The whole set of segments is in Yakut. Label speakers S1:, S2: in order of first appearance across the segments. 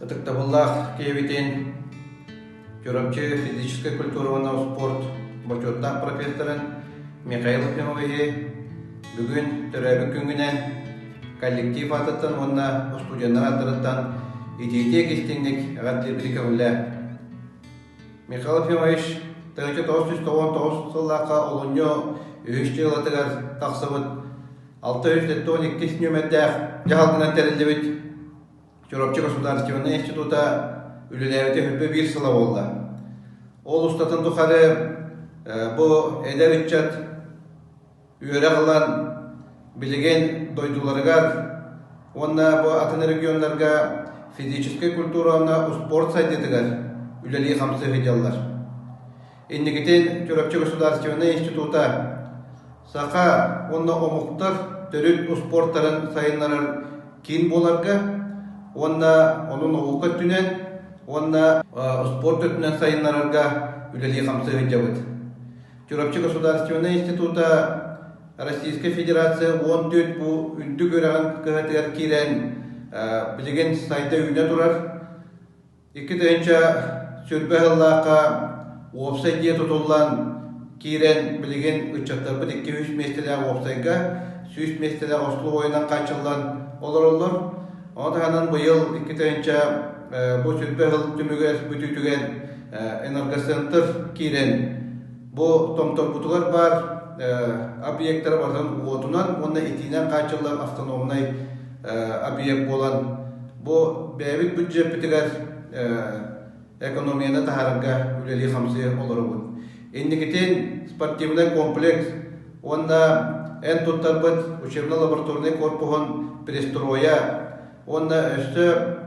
S1: Ытыктабыллаах киһибитин Чурапчы физическай культура уонна спорт бочуоттаах профессорын Михаил Князевиһи бүгүн төрөөбүт күҥҥүнэн коллектив аатыттан уонна устудьуоннар ааттарыттан итиитик-истиҥник эҕэрдэлиирбитин көҕүллэ. Михаил Князевич тыһыынча тоҕус сүүс тоҕуон тоҕус сыллаахха олунньу үһүс дьыалатыгар тахсыбыт алта үс тоттон иккис нүөмэрдээх дьаһалтанан тэриллибит Чурапчы государственнай института үлэлээбитэ хөрбө биир сыла буолла. Ол устатын тухары бу эдэр ыччат үөрэх ылан билигин дойдуларыгар уонна бу атын регионнарга физическэй культура уонна успуорт сайдыытыгар үлэлии-хамсыы сылдьаллар. Инникитин Чурапчы государственнай института Саха уонна омуктар төрүт успуортарын сайыннарар киин буоларга уонна ону наука өттүнэн уонна успуорт өттүнэн сайыннарарга үлэлии-хамсыы сылдьабыт. Чурапчы государственнай института Российская Федерация уон төрт бу үрдүк үөрэҕин кыһатыгар киирэн билигин сайда үүнэ турар Икки тыһыынча сүүрбэ сыллаахха уопсай дьиэ тутуллан киирэн билигин ыччаттарбыт икки-үс миэстэлээх уопсайга сүүс миэстэлээх услуобуйанан хааччыллан олороллор. Ону таһынан быйыл икки тыһыынча бу сүүрбэ сыл түмүгэр бүтүүтүгэн энергоцентр киирэн бу томторбутугар баар объектара барытын уотунан уонна итиинэн хааччыллар автономнай объект буолан Бу бэйэбит бюджеппитигэр экономияны таһаарарга үлэлии-хамсыы олоробут. Инникитин спортивный комплекс уонна эн туттарбыт учебно-лабораторный корпуһун пристройа уонна өссө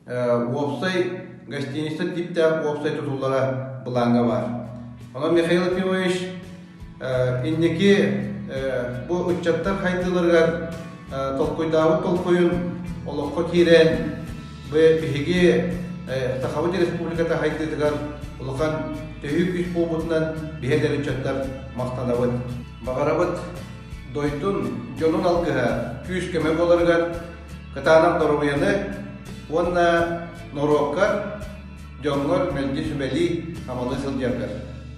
S1: уопсай гостиница типтэх уопсай тутуллара быланга бар. Онон Михаил Ефимович Инники бу ыччаттар хайдыыларыгар толкуйдаабыт толкуйун олоххо киирэн, биһиги Сахабыт Республиката хайдыытыгар улахан төһүү күүс буолбутунан биһи эдэр ыччаттар махтанабыт. Баҕарабыт дойдун, дьонун алгыһа, күүс-көмө буоларыгар кытаанах доруобуйаны уонна норуоккар, дьоҥҥор мэлдьи сүбэлии, амалыы сылдьаргар.